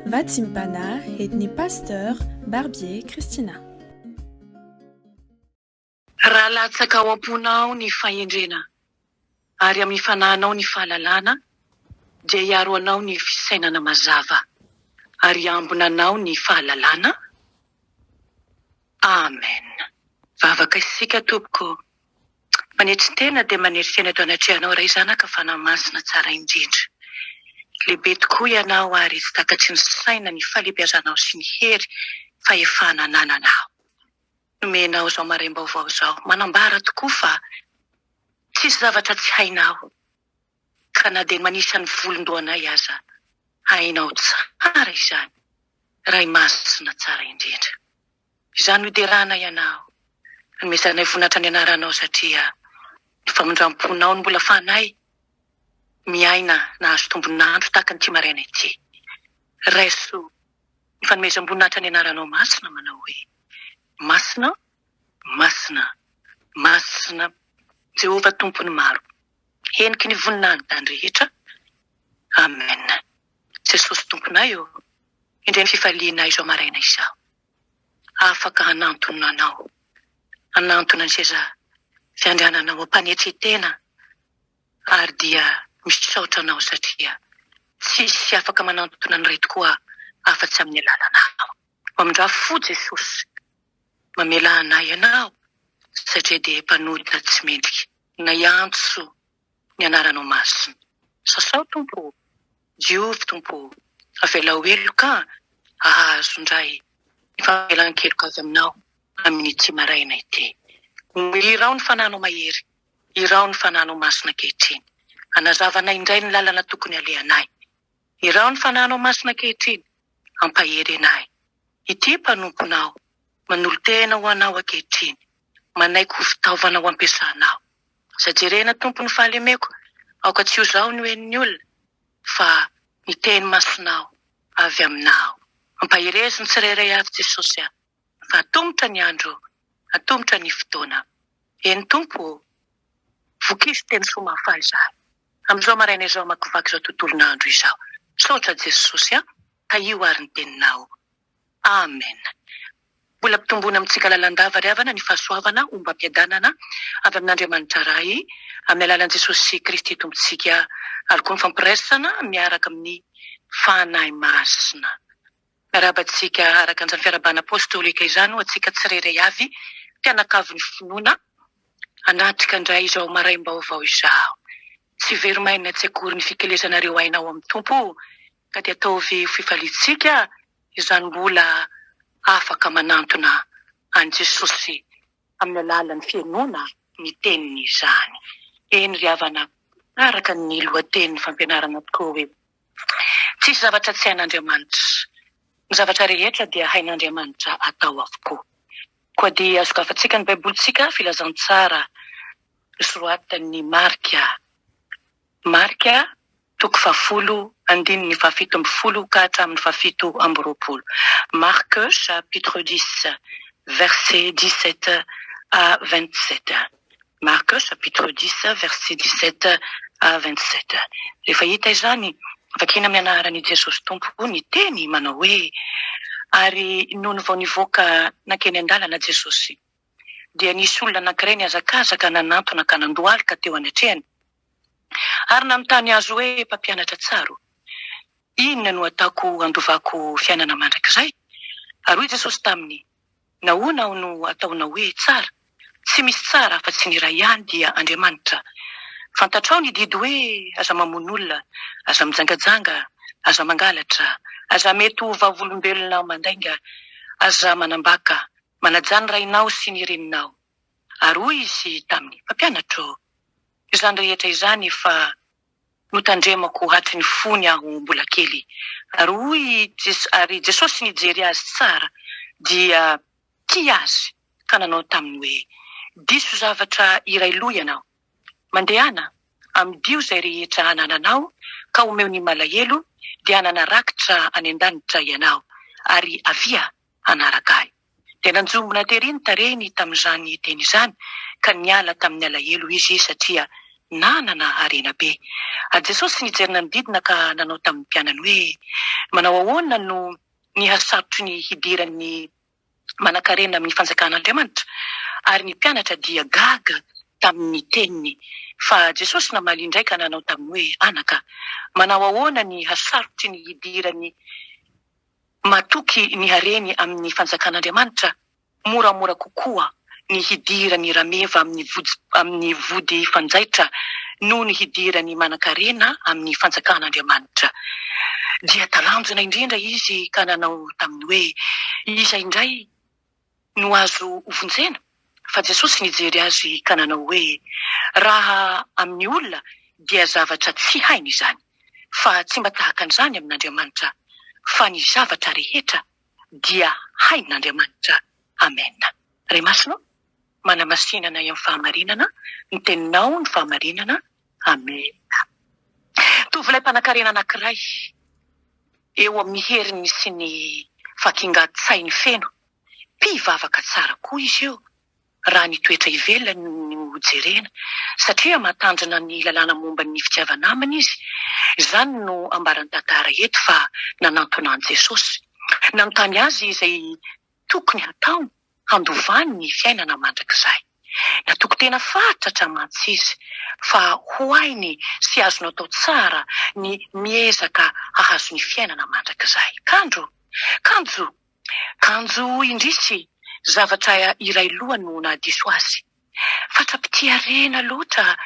Vatsimbana edn'ny Pasteur Barbier Christina. Raha latsaka ao am-ponao ny fahendrena ary amin'ny fanahinao ny fahalalana, dia hiaro anao ny fisainana mazava ary hiambina anao ny fahalalana. Amen. Vavaka isika tompoko Manetry tena dia manery tena eto anatrehanao Ray Zanaka Fanahy Masina Tsara indrindra. Lehibe tokoa Ianao ary tsy takatry ny saina ny fahalebiazanao sy ny hery fahefana anananao. Nomenao izao maraim-baovao izao manambara tokoa fa tsisy zavatra tsy hainao ka na dia ny manisa ny volon-dohanay aza hainao tsara izany Ray Masina Tsara indrindra. Izaho no iterana ianao. Anomezanay vonatra ny anaranao satria ny famindramponao no mbola afahanay miaina nahazo tombon'andro tahaka an'ity maraina ity. Raiso ny fanomezam-boninahitra ny anaranao masina manao hoe, Masina, masina, masina Jehovah Tompon'ny maro. Heniky ny voninahiny tany rehetra. Amen. Jesosy Tomponay ô, indray ny fifalianay izao maraina izao afaka hanantona Anao, hanantona ny seza fiandriananao ampanetry tena ary dia misaotra Anao satria tsisy afaka manantona ny Ray tokoa afa tsy amin'ny alalanao. Mamindrà fo Jesosy, mamelà anay Ianao satria dia mpanota tsy mendrika. Na hiantso ny anaranao masina. Sasao Tompo o! Diovy Tompo o! Avelao heloka hahazo indray ny famelan-keloka avy aminao amin'ity maraina ity. Omeo iraho ny Fananao mahery, iraho ny Fananao masina ankehitriny. Anazava anay indray ny lalana tokony halehanay. Iraho ny Fananao masina ankehitriny, hampahery anay. Ity mpanomponao manolo-tena ho Anao ankehitriny, manaiky ho fitaovana ho ampiasanao. Aza jerena Tompo ny fahalemeko Aoka tsy ho zaho no henon'ny olona Fa ny teny masonao avy aminao Ampaherezo ny tsirairay avy Jesosy a Fa atomotra ny andro Atomotra ny fotoana Eny Tompo ô Vokizo teny soa mahafaly zah Amin'izao maraina izao Hamakivaky izao tontolon'andro izao Misaotra Jesosy a Tahio ary ny teninao Amen! Mbola ampitomboina amintsika lalandava ry havana ny fahasoavana ombam-piadanana avy amin'Andriamanitra Ray amin'ny alalan'i Jesosy Kristy Tompontsika ary koa ny fampiraisana miaraka amin'ny Fanahy Masina. Miarahaba antsika araka an'izany fiarahabana apostolika izany ho antsika tsirairay avy mpianakavin'ny finoana. Hanatrika indray izao maraim-baovao izao. Tsy very mainina tsy akory ny fikelezanareo aina ao amin'ny Tompo Ka dia ataovy ho fifaliantsika izany mbola afaka manantona an'i Jesosy amin'ny alalan'ny fihainoana ny teniny izany. Eny ry havana, araka ny lohatenin'ny fampianarana tokoa hoe, Tsisy zavatra tsy hain'Andriamanitra. Ny zavatra rehetra dia hain'Andriamanitra atao avokoa. Koa dia sokafantsika ny Baibolintsika Filazantsara nosoratan'i Marka. Marka Toko fahafolo, andininy fahafito ambin'ny folo ka hatramin'ny fahafito amby roapolo. Marc chapitre dix verset dix-sept à vingt-sept. Marc chapitre dix verset dix-sept à vingt-sept. Rehefa hita izany, vakina amin'ny anaran'i Jesosy Tompo ny teny manao hoe, Ary nony vao nivoaka nankeny an-dalana Jesosy, dia nisy olona anankiray nihazakazaka nanantona ka nandohalika teo anatrehany. ary nanontany azy hoe, Mpampianatra tsara ô, inona no ataoko handovako fiainana mandrakizay? Ary hoy Jesosy taminy, Nahoana aho no ataonao hoe tsara? Tsy misy tsara afa-tsy ny iray ihany, dia Andriamanitra. Fantatrao ny didy hoe, Aza mamono olona, aza mijangajanga, aza mangalatra, aza mety ho vavolombelona mandainga, aza manambaka, manajà ny rainao sy ny reninao. Ary hoy Izy taminy, Mpampianatra ô, Izany rehetra izany efa notandremako hatry ny fony aho mbola kely, ary hoy i Jesosy, ary Jesosy nijery azy tsara dia tia azy ka nanao taminy hoe, Diso zavatra iray lo ianao. Mandehana, amidio izay rehetra anananao ka omeo ny malahelo, dia hanana rakitra any an-danitra ianao, ary avia, hanaraka ahy. Dia nanjombona tery ny tarehiny tamin'izany teny izany, ka niala tamin'ny alahelo izy satria nanana harena be. Ary Jesosy nijery nanodidina ka nanao tamin'ny mpianany hoe, Manao ahoana no nihasarotro ny hidiran'ny manankarena amin'ny fanjakan'Andriamanitra? Ary ny mpianatra dia gaga tamin'ny teniny. Fa Jesosy namaly indray ka nanao taminy hoe, Anaka, manao ahoana ny hasarotry ny hidiran'ny. Matoky ny hareny amin'ny Fanjakan'Andriamanitra, moramora kokoa ny hidiran'ny rameva amin'ny vody amin'ny vody fanjaitra noho ny hidiran'ny manan-karena amin'ny Fanjakan'Andriamanitra. Dia talanjona indrindra izy ka nanao taminy hoe, Iza indray? No azo hovonjena? Fa Jesosy nijery azy ka nanao hoe, Raha amin'ny olona dia zavatra tsy hainy izany, fa tsy mba tahaka an'izany amin'Andriamanitra, fa ny zavatra rehetra dia hain'Andriamanitra. Amena. Ry Masina, manamasina anay amin'ny fahamarinana, ny Teninao no fahamarinana, Amena. Tovolahy mpanankarena anankiray, eo amin'ny heriny sy ny fakingan-tsainy feno, mpivavaka tsara koa izy io, raha ny toetra ivelany no jerena, satria matanjona ny lalàna momba ny fitiava-namana izy. Izany no ambaran-tantara eto fa nanantona an'i Jesosy. Nanontany Azy izay tokony hatao handovany ny fiainana mandrakizay. Natoky tena fatratra mantsy izy fa ho hainy sy azony atao tsara ny miezaka hahazo ny fiainana mandrakizay. Kanjo! Kanjo! Kanjo indrisy! Zavatra iray loha no nahadiso azy. Fatra-pitia rena loatra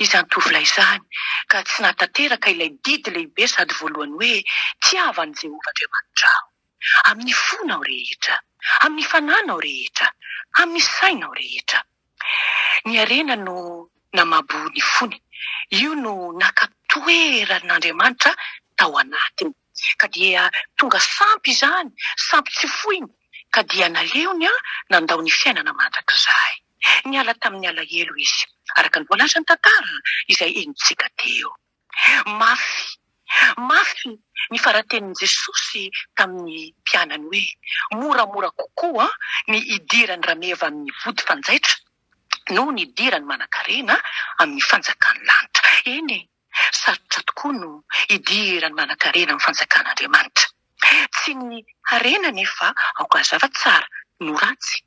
izany tovolahy izany ka tsy nahatanteraka ilay didy lehibe sady voalohany hoe, Tiava an'i Jehovah Andriamanitrao. amin'ny fonao rehetra, amin'ny fananao rehetra, amin'ny sainao rehetra. Ny harena no namabo ny fony, io no naka toeran'Andriamanitra tao anatiny, ka dia tonga sampy izany, sampy tsy foiny, ka dia naleony nandao ny fiainana mandrakizay. Niala tamin'ny alahelo izy, araka ny voalazan'ny tantara izay henontsika teo. Mafy, mafy ny fara-tenin'i Jesosy tamin'ny mpianany hoe, Moramora kokoa ny hidiran'ny rameva amin'ny vody fanjaitra noho ny hidiran'ny manankarena amin'ny fanjakan'ny lanitra. Eny e, sarotra tokoa no hidiran'ny manankarena amin'ny Fanjakan'Andriamanitra. Tsy ny harena anefa aoka hazava tsara no ratsy.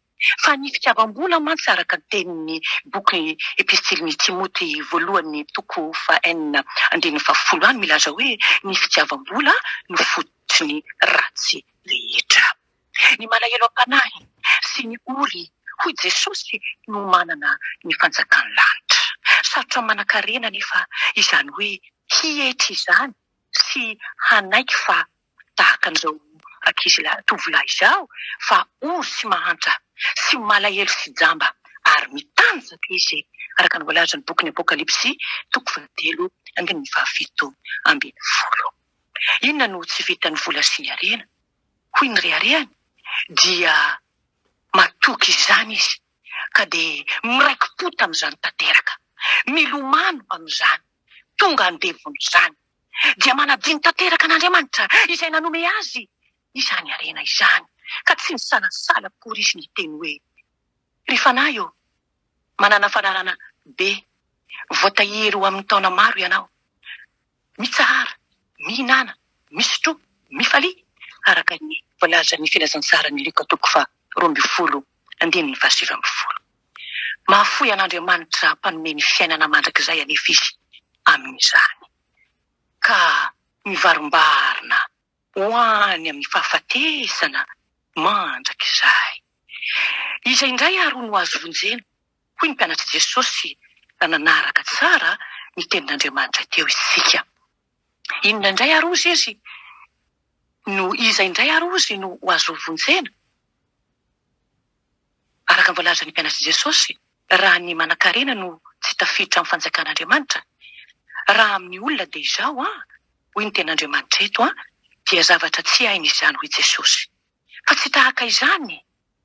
Fa ny fitiavam-bola mantsy araka ny tenin'ny boky Epistilin'i Timoty voalohany toko faha enina andininy faha folo any milaza hoe ny fitiavam-bola no fototry ny ratsy rehetra. Ny malahelo am-panahy sy ny ory hoy Jesosy no manana ny fanjakan'ny lanitra. Sarotra manan-karena anefa izany hoe hietry izany sy hanaiky fa tahaka an'izao ankizy lahy tovolahy izao fa ory sy mahantra sy malahelo sy jamba ary mitanjaka izy araka ny voalazan'ny bokin'ny Apokalypsy toko fahatelo andininy fahafito ambin'ny folo. Inona no tsy vitan'ny vola sy ny harena? Hoy ny reharehany dia matoky izany izy ka dia miraiki-po tamin'izany tanteraka, milomano amin'izany, tonga andevon'izany. dia manadino tanteraka an'Andriamanitra izay nanome azy izany harena izany, ka tsy nisalasala akory izy niteny hoe, Ry fanahy ô, manana fanarahana be, voatahiry ho amin'ny taona maro ianao. Mitsahara, mihinana, misotroa, mifalia, araka ny voalazan'ny Filazantsaran'i Lioka toko faha roa ambin'ny folo, andininy faha sivy ambin'ny folo. Mahafoy an'Andriamanitra mpanome ny fiainana mandrakizay anefa izy amin'izany, ka mivarimbarina ho any amin'ny fahafatesana mandrakizay. Iza indray àry no azo vonjena? hoy ny mpianatr'i Jesosy, raha nanaraka tsara ny tenin'Andriamanitra teo isika. Inona indray àry hozy izy no, iza indray àry hozy no ho azo vonjena? Araka ny voalazan'ny mpianatr'i Jesosy, raha ny manankarena no tsy tafiditra amin'ny fanjakan'Andriamanitra, raha amin'ny olona dia izao an, hoy ny tenin'Andriamanitra eto an, dia zavatra tsy hainy izany hoy Jesosy. Fa tsy tahaka izany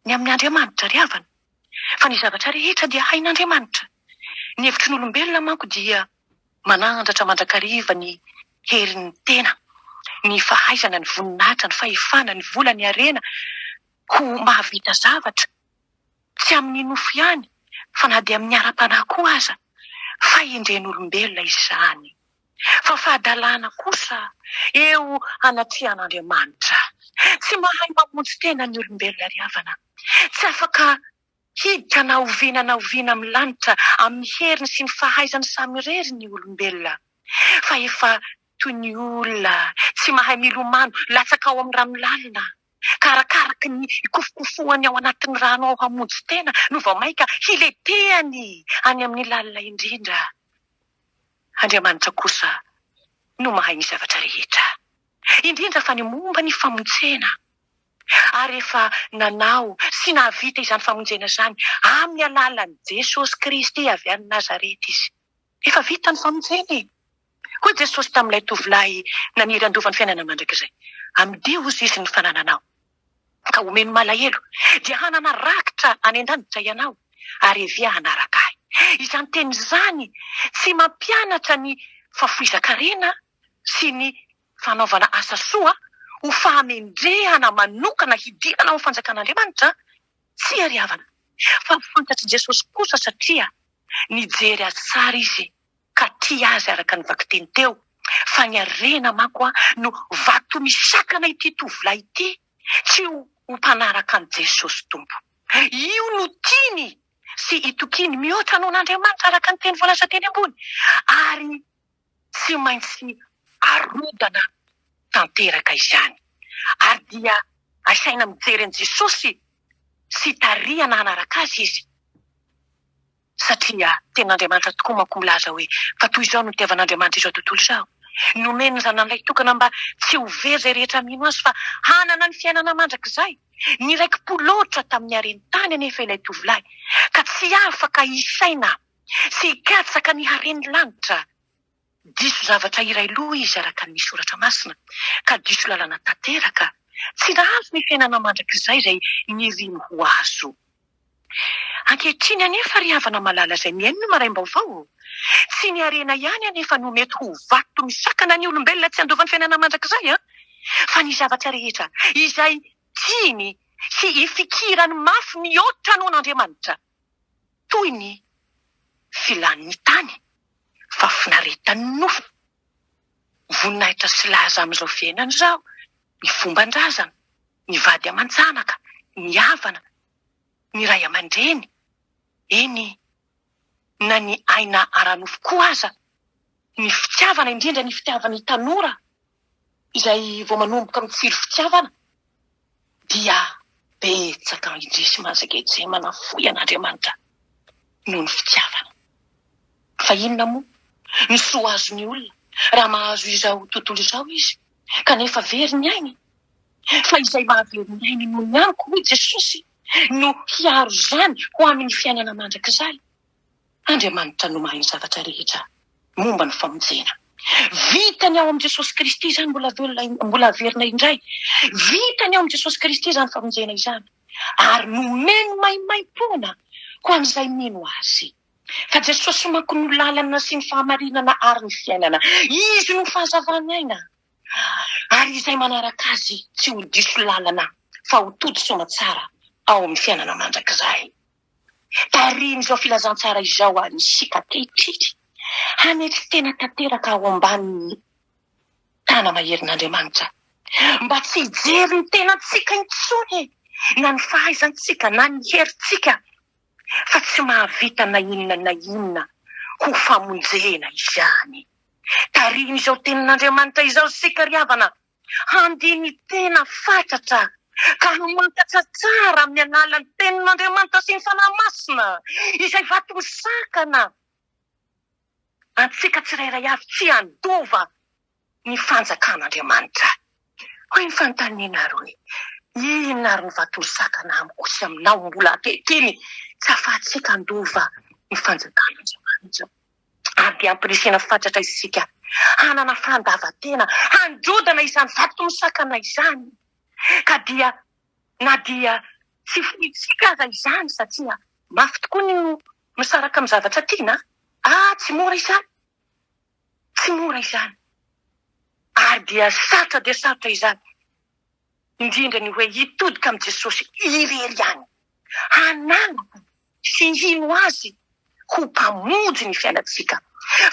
ny amin'ny Andriamanitra ry havana. Fa ny zavatra rehetra dia hain'Andriamanitra. Ny hevitry ny olombelona manko dia manandratra mandrakariva ny herin'ny tena, ny fahaizana, ny voninahitra, ny fahefana, ny vola, ny harena, Koa mahavita zavatra, tsy amin'ny nofo ihany, fa na dia amin'ny ara-panahy koa aza, fahendren'olombelona izany, fa fahadalana kosa eo anatrehan'Andriamanitra. Tsy mahay mamonjy tena ny olombelona ry havana. Tsy afaka hiditra na oviana na oviana amin'ny lanitra amin'ny heriny sy ny fahaizany samirery ny olombelona, fa efa toy ny olona tsy mahay milomano latsaka ao amin'ny rano lalina. Karakaraky ny ikofokofohany ao anatin'ny rano ao hamonjy tena no vao mainka hiletehany any amin'ny lalina indrindra. Andriamanitra kosa no mahay ny zavatra rehetra, indrindra fa ny momba ny famonjena, ary efa nanao sy nahavita izany famonjena izany amin'ny alalan'i Jesosy Kristy avy any Nazareta Izy. Efa vita ny famonjena e! Hoy Jesosy tamin'ilay tovolahy naniry handova ny fiainana mandrakizay. Amidio hozy Izy ny fanananao, ka omeny malahelo, dia hanana rakitra any an-danitra ianao, ary avia hanaraka Ahy. Izany teny izany tsy mampianatra ny fahafoizan-karena sy ny fanaovana asa soa ho fahamendrehana manokana hidirana ao amin'ny fanjakan'Andriamanitra, tsia ry havana, fa fantatr'i Jesosy kosa satria Nijery azy tsara izy ka tia azy araka ny vakiteny teo fa ny harena manko no vato misakana ity tovolahy ity tsy ho mpanaraka an'i Jesosy Tompo. Io no tiany sy itokiany mihoatra noho an'Andriamanitra araka ny teny voalaza teny ambony ary tsy maintsy arovana tanteraka izany, ary dia asaina mijery an'i Jesosy sy tarihana hanaraka Azy izy, satria Tenin'Andriamanitra tokoa manko milaza hoe, Fa toy izao no nitiavan'Andriamanitra izao tontolo izao, nomeny ny Zanany Lahy Tokana mba tsy ho very izay rehetra mino Azy fa hanana ny fiainana mandrakizay. Niraiki-po loatra tamin'ny hareny tany anefa ilay tovolahy, ka tsy afaka hisaina Tsy hikatsaka ny hare ny lanitra. Diso zavatra iray loha izy araka ny Soratra Masina, ka diso lalana tanteraka. Tsy nahazo ny fiainana mandrakizay izay niriny ho azo. Ankehitriny anefa, ry havana malala izay mihaino ny maraim-baovao, tsy ny harena ihany anefa no mety ho vato misakana ny olombelona tsy handoa ny fiainana mandrakizay, fa ny zavatra rehetra izay tiany sy ifikirany mafy mihoatra noho an'Andriamanitra. toy ny filan'ny tany, fahafinaretan'ny nofo, ny voninahitra sy laza amin'izao fiainana izao, ny fomban-drazana, ny vady aman-janaka, ny havana, ny ray aman-dreny, eny, na ny aina ara-nofo koa aza, ny fitiavana, indrindra ny fitiavan'ny tanora Izay vao manomboka mitsiry fitiavana dia betsaka indrisy manzaka ejy manafoy an'Andriamanitra noho ny fitiavana. Fa inona moa ny soa azon'ny olona raha mahazo izao tontolo izao izy kanefa very ny ainy? Fa izay mahavery ny ainy noho ny amiko, hoy Jesosy, no hiaro izany ho amin'ny fiainana mandrakizay. Andriamanitra no mahay ny zavatra rehetra momba ny famonjena. Vitany ao amin'i Jesosy Kristy izany, mbola velona, mbola haverina indray. Vitany ao amin'i Jesosy Kristy izany famonjena izany, ary nomeny maimaimpoana ho an'izay mino Azy. Fa Jesosy manko no lalana sy ny fahamarinana ary ny fiainana. Izy no fahazavan'aina, ary izay manaraka Azy tsy ho diso lalana fa ho tody soamatsara ao amin'ny fiainana mandrakizay. Tarihin'izao filazantsara izao an' isika ankehitriny hanetry tena tanteraka ao ambanin'ny tàna maherin'Andriamanitra, mba tsy hijery ny tenantsika intsony, na ny fahaizantsika, na ny herintsika, fa tsy mahavita na inona na inona ho famonjena izany. Tarihin'izao Tenin'Andriamanitra izao isika ry havana. Handini tena fatratra ka hamantatra tsara amin'ny alalan'ny Tenin'Andriamanitra sy ny Fanahy Masina izay vatom-sakana antsika tsirairay avy tsy handova ny fanjakan'Andriamanitra. Hoy ny fanontaniana ary hoe, Inona ary no vatom-sakana amiko sy aminao mbola ankehitriny tsy ahafahantsika handova ny fanjakan'Andriamanitra? ary dia ampirisihina fatratra isika hanana fandavantena handrodana izany vato misakana izany, ka dia na dia tsy fointsika aza izany, satria mafy tokoa ny misaraka amin'ny zavatra tiana, ah, tsy mora izany, tsy mora izany, ary dia sarotra dia sarotra izany. indrindra ny hoe hitodika amin'i Jesosy irery ihany, hanangona sy hino Azy ho Mpamonjy ny fiainantsika.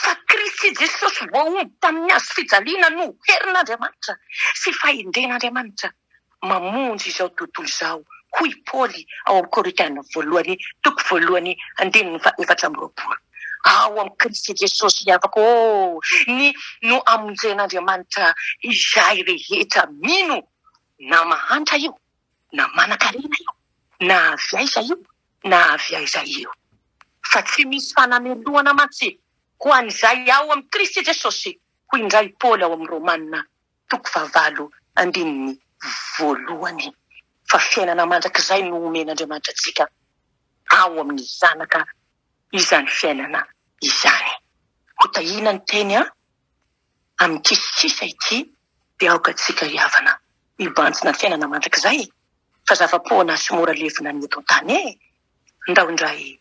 Fa Kristy Jesosy voaomby tamin'ny hazo fijaliana no herin'Andriamanitra sy fahendren'Andriamanitra mamonjy izao tontolo izao, hoy Paoly ao amin'ny Korintiana Voalohany, toko voalohany, andininy faha-efatra amby roapolo. Ao amin'i Kristy Jesosy ny afako oh, ny no amonjen'Andriamanitra izay rehetra mino, na mahantra io, na manan-karena io, na avy aiza io, na avy aiza io. Fa tsy misy fanamelohana mantsy ho an'izay ao amin'i Kristy Jesosy, hoy indray i Paoly ao amin'ny Romana toko fahavalo andininy voalohany fa fiainana mandrakizay no omen'Andriamanitra antsika ao amin'ny Zanaka izany fiainana izany. Ho tahiana ny teny amin'ity sisa ity dia aoka antsika hihavana hibanjina ny fiainana mandrakizay fa zava-poana sy mora levona ny eto an-tany e! Ndao indray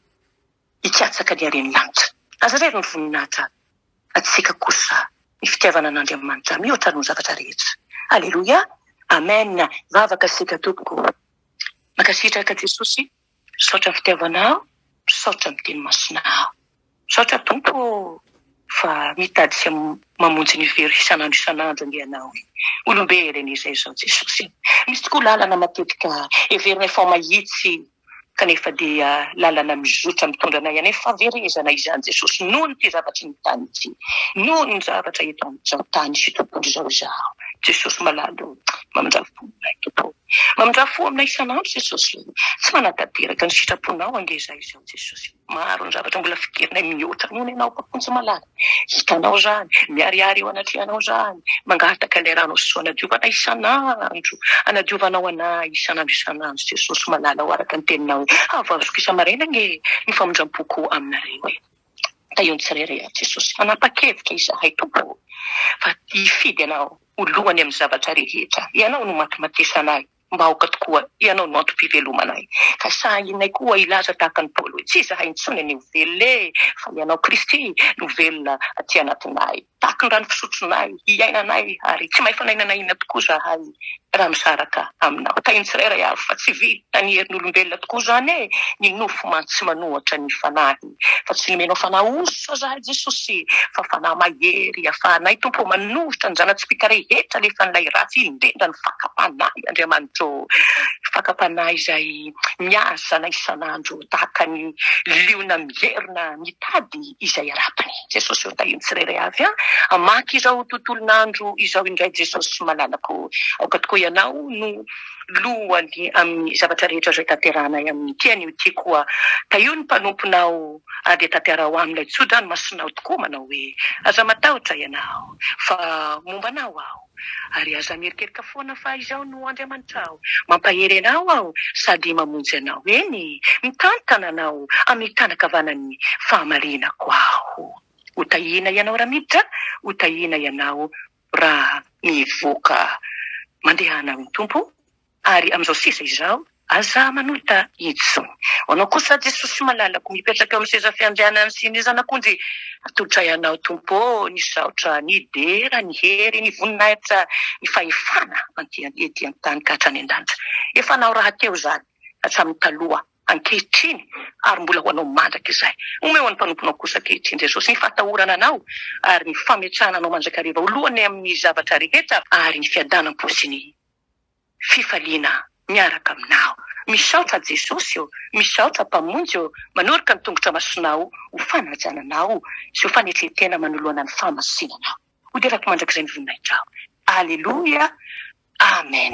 hikatsaka ny haren'ny lanitra. Aza revo ny voninahitra fa tsika kosa ny fitiavana an'Andriamanitra mihoatra noho ny zavatra rehetra. Aleloia! Amen! Vavaka isika tompoko. Mankasitraka Jesosy misaotra ny fitiavanao misaotra ny teny masinao misaotra Tompo fa mitady sy mamonjy ny very isan'andro isan'andro anie ianao e olombe reny izay izao Jesosy e misy tokoa lalana matetika heverina efa mahitsy kanefa dia lalana mizotra mitondra anay any fahaverezana izany Jesosy noho ny ty zavatra eny tany ity noho ny zavatra eto amizao tany sy tontolo izao izaho Jesosy malala o mamindrafo fo aminay Tompo o mamindrafo fo aminay isanandro Jesosy o tsy manatanteraka ny sitraponao ange izaho izao Jesosy o. Maro ny zavatra mbola fiderinay mihoatra noho ny anao Mpamonjy malala. Hitanao izany, miharihary eo anatrehanao izany, mangataka ilay Ranao Soa hanadiovana isan'andro, hanadiovanao anay isan'andro isan'andro Jesosy malala o araka ny teninao hoe havazoko isa-maraina anie ny famindram-poko aminareo e. Tahio ny tsirairay ato Jesosy, fanapa-kevitra izahay Tompo o, fa hifidy Anao ho lohany amin'ny zavatra rehetra, Ianao no matimatesanay. Mba aoka tokoa, Ianao no antom-pivelomanay, ka sahinay koa hilaza tahaka an'i Paoly hoe, Tsy izahay intsony anie ho velona e, fa Ianao Kristy no velona aty anatinay. Tahaka ny rano fisotronay, iainanay, ary tsy maifana inona na inona tokoa izahay raha misaraka Aminao. Tahiny tsirairay avy, fa tsy vita ny herin'olombelona tokoa izany e, ny nofo mantsy manohatra ny fanahy. Fa tsy nomenao fanahy osa zahay Jesosy e, fa fanahy mahery afahanay Tompo ô manoritra ny zanatsika rehetra alefan'ilay ratsy indrindra ny fakam-panahy Andriamanitra ô, fakam-panahy izay miazana isan'andro tahaka ny liona mierona mitady izay harapany Jesosy ô, tahin'ny tsirairay avy an, hamaky izao tontolon'andro izao indray Jesosy malalako ô, aoka tokoa Ianao no. Lohany amin'ny zavatra rehetra izay tanterahanay amin'ny ity anio ity koa, tahio ny mpanomponao ary dia tanterao amin'ilay tso-dranomasinao tokoa manao hoe, Aza matahotra ianao, fa momba anao aho, ary aza mierikerika foana fa Izaho no Andriamanitrao, mampahery anao Aho sady mamonjy anao, eny, mitantana anao amin'ny tanan-kavanan'ny fahamarinako Aho. Ho tahiana ianao raha miditra, ho tahiana ianao raha mivoaka mandehana amin'ny Tompo ary amin'izao sisa izao aza manota itsy ho anao kosa Jesosy malalako mipetraka eo amin'ny seza fiandrianany sy ny zanak'ondry atolotray anao Tompo ô nisaotra ny dera ny hery ny voninahitra ny fahefana ety an-tany ka hatrany an-danitra efa anao rahateo izany hatramin'ny taloha ankehitriny ary mbola ho anao mandrakizay. Omeo an'ny mpanomponao kosa ankehitriny, Jesosy, ny fahatahorana Anao ary ny fametrahana Anao mandrakariva ho lohany amin'ny zavatra rehetra ary ny fiadanam-po sy ny fifaliana miaraka Aminao. Misaotra, Jesosy ô! Misaotra, Mpamonjy ô! Manorika ny tongotra masonao ho fanajana Anao sy ho fanetren-tena manoloana ny fahamasinanao. Hoderako mandrakizay ny voninahitrao. Aleloia. Amen.